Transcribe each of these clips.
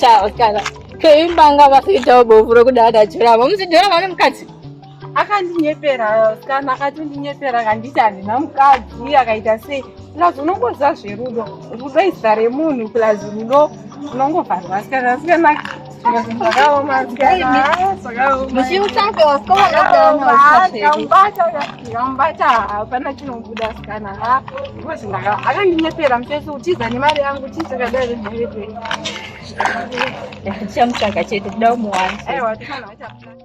Chao, cara. Keimbanga vakuitawo bofu rokuda adajurama. Muzidhora vane mukadzi. akandinyepera kana akatondinyepera akanditi handina mukadzi akaita sei plus unongoziva zverudo rudo izita remunhu plus rudo unongovharwa sikana sikana ndakambata hapana chinobuda sikana akandinyepera mutese utiza nemari yangu tisekadai mhaiee chamutsvaga chete kuda umuwana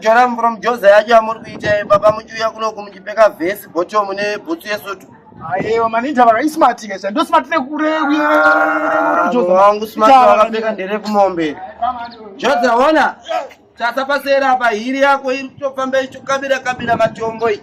joram from joza yacho yamuri kuita eh, baba muchiuya kunoku muchipfeka vhesi bottom nebhutsu yesutu aiwa maninja vaka ismart kesha ndo smart nekure wangu smart wakapfeka nderekumombe joza ona tasapasera apa hiri yako iri kutofamba ichikabira kabira matombo iyi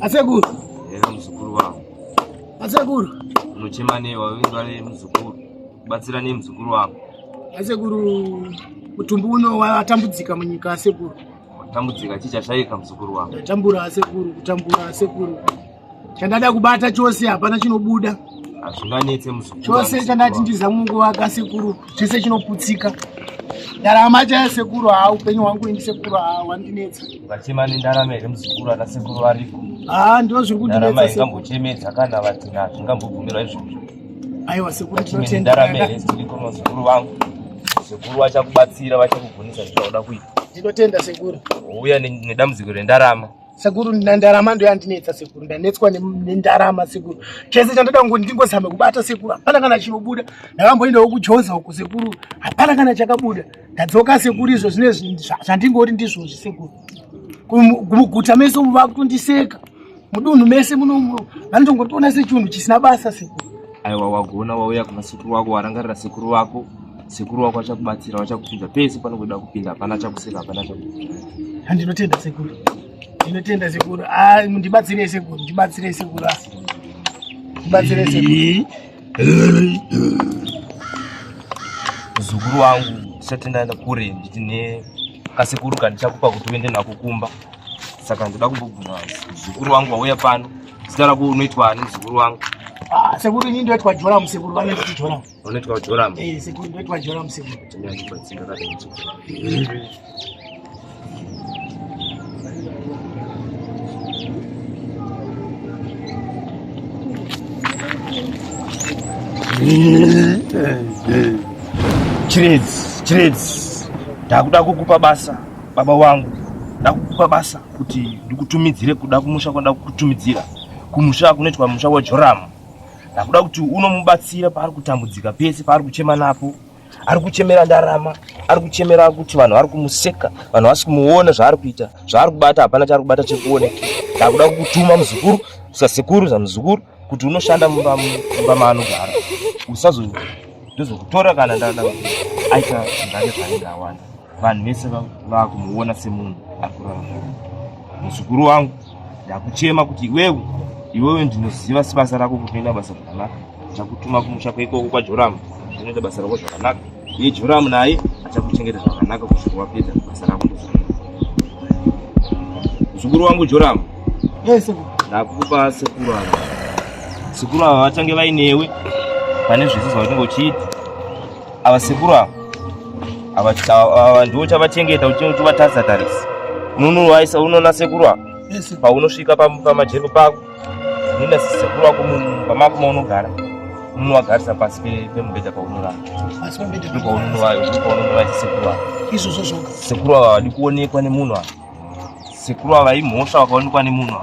Asekuru. Eya muzukuru wangu. Asekuru. Unochema nei wavindwa nei muzukuru? Batsira nei muzukuru wangu? Asekuru mutumbi uno watambudzika munyika asekuru. Watambudzika chii chashaika muzukuru wangu? Ndatambura asekuru, kutambura asekuru. chandada kubata chose hapana chinobuda hazvinganetse muzukuru chose chandati ndizamwe kuvaka sekuru chese chinoputsika ndarama chaya sekuru haa upenyu hwangu ini sekuru haa wandinetsa vachema nendarama here muzukuru ana sekuru variko haa ndo zviri kundinetsa ingambochemedza kana vatina zvingambobvumirwa izvozvo aiwa sekuru tinotendarama here zviriko muzukuru vangu sekuru vachakubatsira vachakugonesa zvichauda kuita ndinotenda sekuru uya nedambudziko rendarama sekuru ndarama ndo yandinetsa sekuru ndanetswa nendarama sekuru chese chandoda ngo ndingozame kubata sekuru hapana kana chinobuda ndakamboendawo kujoza uku sekuru hapana kana chakabuda ndadzoka sekuru izvo zvine zvandingoti ndizvozvi sekuru kumuguta mese umu vakutondiseka mudunhu mese munomu vanotongotiona sechinhu chisina basa sekuru aiwa wagona wauya kuna sekuru wako warangarira sekuru wako sekuru wako achakubatsira vachakuudza pese panokuda kupinda hapana chakuseka hapana chakuita handinotenda sekuru ndinotenda sekuru ah, ndibatsirei sekuru ndibatsirei sekuru ah. ndibatsirei sekuru muzukuru wangu ndisati ndaenda kure nditi ne kasekuru kandichakupa kuti uende nako kumba saka ndoda kumbobvuma muzukuru wangu wauya pano zita rako unoitwa ani muzukuru wangu ah, sekuru ini ndoitwa joramu sekuru vanonditi joramu Unaitwa Joram. Eh, siku unaitwa Joram siku. Tumia kwa tsinga kata mtu. Chirezi, chirezi. Ndakuda kukupa basa baba wangu. Ndakukupa basa kuti ndikutumidzire kuda kumusha kwanda kukutumidzira. Kumusha kunoitwa musha wa Joram. ndakuda kuti unomubatsira paari kutambudzika pese paari kuchema napo ari kuchemera ndarama ari kuchemera kuti vanhu vari kumuseka vanhu vasi kumuona zvaari kuita zvaari kubata hapana chaari kubata chekuoneka ndakuda kukutuma muzukuru sasekuru zamuzukuru kuti unoshanda mumba maanogara usazo ndozokutora kana ndada aita zvake zvainge awanda vanhu vese vakumuona semunhu ari kurarama muzukuru wangu ndakuchema kuti iwewe iwewe ndinoziva sibasa rako kuti unoita basa zvakanaka ndakutuma kumusha kweikoko kwajoramu unoita basa rako zvakanaka iye joramu naye achakuchengeta zvakanaka kusvika wapedza basa rako muzukuru wangu joramu yes, ndakupa sekuru ava sekuru ava vachange vainewe pane zvese zvaunenge uchiita Ava sekuru ava ava ndivo chavachengeta uchivatadza tarisi unonovaisa unoona sekuru ava paunosvika pamajeko pako unoenda sekuru wako pamako maunogara unovagarisa pasi pemubhedha paunorara sekuru ava vadi kuonekwa nemunhu ava Sekuru ava imhosva vakaonekwa nemunhu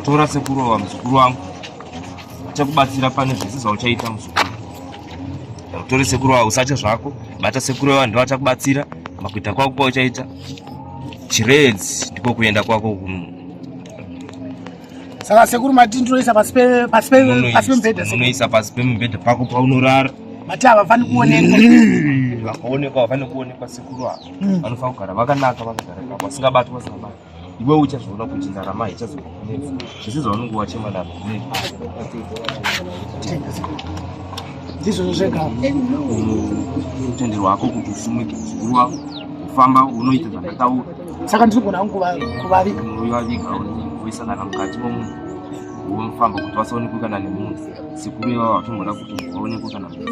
tora sekuru ava muzukuru wangu achakubatsira pane zvese zvauchaita muzukuru utore sekuru ava usatya zvako bata sekuru ava ndivo achakubatsira makuita kwako kwauchaita chiredzi ndiko kuenda kwako saka sekuru mati ndinoisa pasi pemubhedha unoisa pasi pemubhedha pako paunorara mati havafani kuonekwa vakaonekwa havafani kuonekwa sekuru ava hmm. vanofanira kugara vakanaka vakagara kavo vasingabatwi vasingabati iwe uchazviona kuti ndarama ichazokunetsa zvese zvaunenge wachema navo ndizvozvo zvega utenderwa hako kuti usimuke mukuru wako kufamba unoita zvandataura saka ndiri kugona hangu kuvaviga uyivaviga uisa kana mukati momunhu wofamba kuti vasaonekwe kana nemunhu sekuru ivava vatomboda kuti munhu vaonekwe kana munhu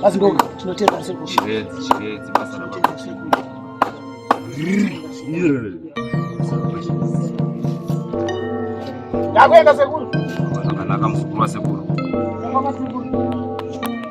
asi ndo tinotenda sekuru chiredzi chiredzi basa ndakuenda sekuru zvakanaka muzukuru wasekuru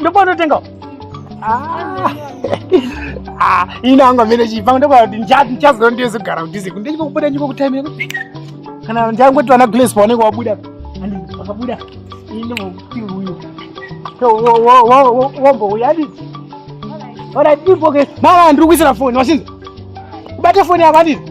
ndokwanotenga ah. ah, ini anga mene chipanga ndokuti ndichaziva ndiyezogara kudhize kundichikokubuda ndikokutaimira kana ndiangoti vana glace paoneka wabuda and wakabuda ini muti uyu wombouya diti ona dipoke mama ndiri kuisira foni washinzi ubate foni yako anditi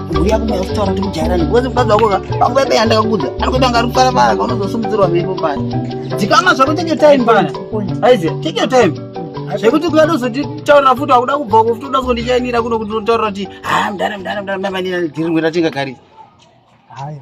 mbuya kumwe kutaura kuti mujairani because mukadzi wako vangu vaibe yandakakudza anokuita kunge ari kufara fara ka unozosimudzirwa mhepo paya dzikama zvako take your time pana aize take your time zvekuti kuya ndozotitaurira futi wakuda kubva ko futi uda kuzondichainira kuno kuti unotaurira kuti ha mdana mdana mdana mdana ndiri ngwera tingagari haya